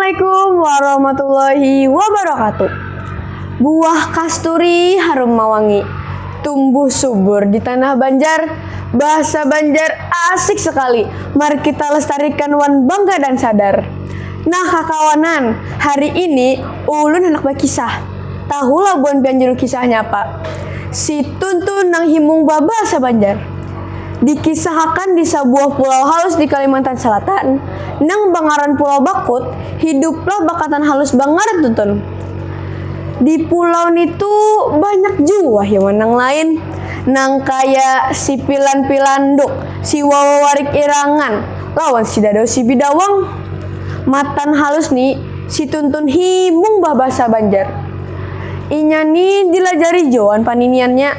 Assalamualaikum warahmatullahi wabarakatuh. Buah kasturi harum mawangi, tumbuh subur di tanah Banjar. Bahasa Banjar asik sekali, mari kita lestarikan wan bangga dan sadar. Nah kakawanan, hari ini ulun handak bakisah. Tahu labuan pian juru kisahnya apa? Si Tun tu nang himung babasa Banjar. Dikisahakan di sabuah pulau halus di Kalimantan Salatan, nang bangaran Pulau Bakut, hiduplah bakatan halus bangaran tu Tun. Di pulau nitu banyak jua hiwan nang lain, nang kaya si Pilan Pilanduk, si Wawa Warik Irangan, lawan si Dadau si Bidawang. Matan halus ni. Si Tuntun hibung bah basa Banjar. Inya ni dilajari jua wan paniniannya.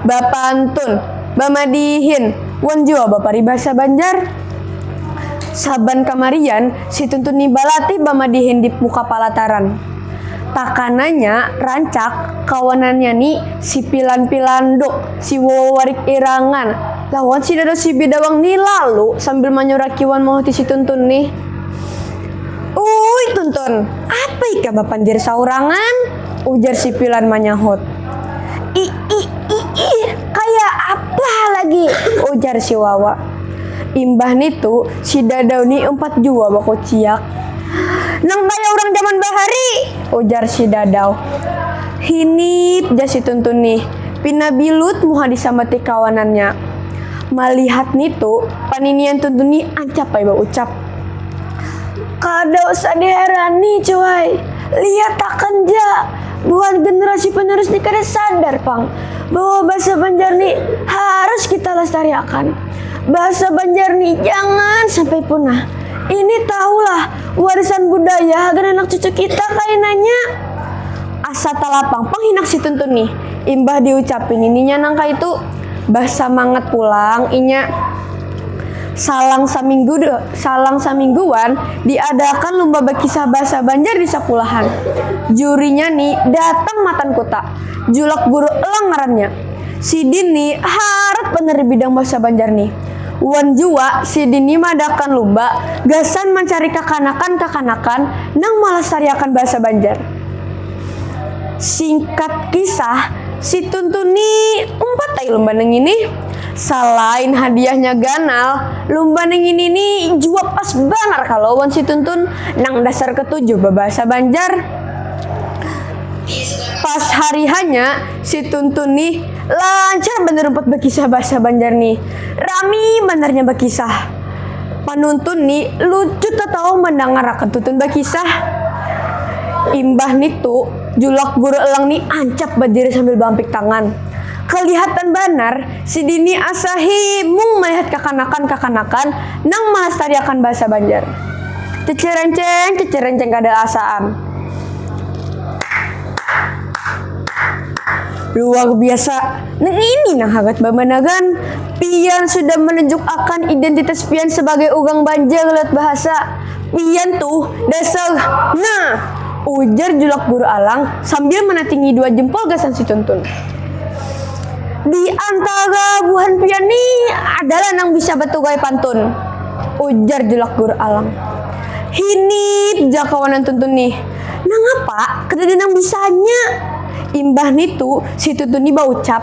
Bapantun, bamadihin, wan jua baparibasa Banjar. Saban kamarian si Tuntun ni balatih bamadihin di muka palataran. Takananya rancak kawanannya ni si Pilan Pilanduk, si Wowo Warik Irangan, lawan si Dado si Bidawang ni lalu sambil manyuraki wan mahuti si Tuntun ni. Uy tuntun, apa ika bapandir saurangan? Ujar si Pilan manyahut. I, i, i, i, kaya apa ha lagi? Ujar si Wawa. Imbah nitu si Dadau ni umpat jua bakuciak. Nang kaya urang jaman bahari! Ujar si Dadau. Hinip jar si Tuntun ni, pina bilut muha disambati kawanannya. Malihat nitu, paninian Tuntun ni ancap ai baucap. Kada usah diherani, cuai. Lihat akan ja, buhan generasi penerus ni kada sadar pang bahwa bahasa Banjar ni harus kita lestariakan. Bahasa Banjar ni jangan sampai punah. Ini tahulah warisan budaya hagan anak cucu kita kainanya. Asa talapang pang hinak si Tuntun ni imbah diucapi nininya nangkaitu. Basamangat pulang inya. Salang saminggu salang samingguan diadaakan lumba bakisah bahasa Banjar di sakulahan. Jurinya ni datang matan kuta, Julak Guru Elang ngarannya. Sidin ni harat banar di bidang bahasa Banjar ni. Wan jua sidin ni maadaakan lumba gasan mancari kakanakan-kakanakan nang malastariakan bahasa Banjar. Singkat kisah, si Tuntun ni umpat ai lumba nang ngini. Salain hadiahnya ganal, lumba nang ini ni jua pas banar kalo wan si Tuntun nang dasar ketujuh babahasa Banjar. Pas hari hanya, si Tuntun ni lancar banar umpat bakisah bahasa Banjar ni. Rami banar nya bakisah. Panuntun ni lucu tatawa mandangarakan Tuntun bakisah. Imbah nitu, Julak Guru Elang ni ancap badiri sambil baampik tangan. Kalihatan banar, sidini asa hi mung malihat kakanakan-kakanakan nang malastariakan bahasa Banjar. Cicirenceng, cicirenceng kada asa am. Luar biasa, nang ini nang hangat bamanagan. Pian sudah manunjuk akan identitas pian sabagai urang Banjar lewat bahasa. Pian tuh dasar nah! ujar julak Guru Alang sambil manatingi dua jempol gasan si Tuntun. Di antara buhan pian ni adalah nang bisa baturai pantun, ujar julak Guru Alang. Hinip ja kawanan Tuntun nih, nangapa kadada nang bisanya? Imbah nitu si Tuntun ni baucap,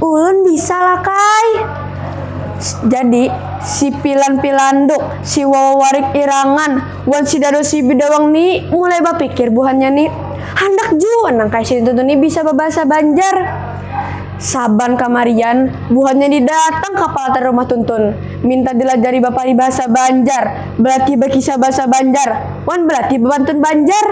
Ulun bisa lakay! Jadi si Pilan Pilanduk. Si Wawa warik irangan wan si Dado si Bidawang ni mulai bapikir buhannya ni, handak jua nang kaya si Tuntun ni bisa babahasa Banjar. Saban kamarian buhannya ni datang ka palatar rumah Tuntun, minta dilajari baparibahasa Banjar, balatih bakisah bahasa Banjar, wan balatih bapantun Banjar.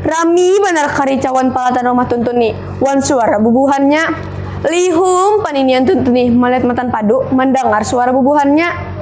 Rami banar karicauan palatar rumah Tuntun ni wan suara bubuhannya. Lihum paninian Tuntun ni malihat matan padu mandangar suara bubuhannya.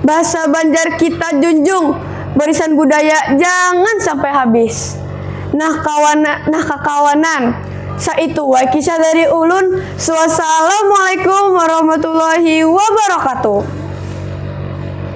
Basa banjar kita junjung barisan budaya jangan sampai habis nah kawan nah kakawanan sa itu wai kisah dari ulun suasalamualaikum warahmatullahi wabarakatuh.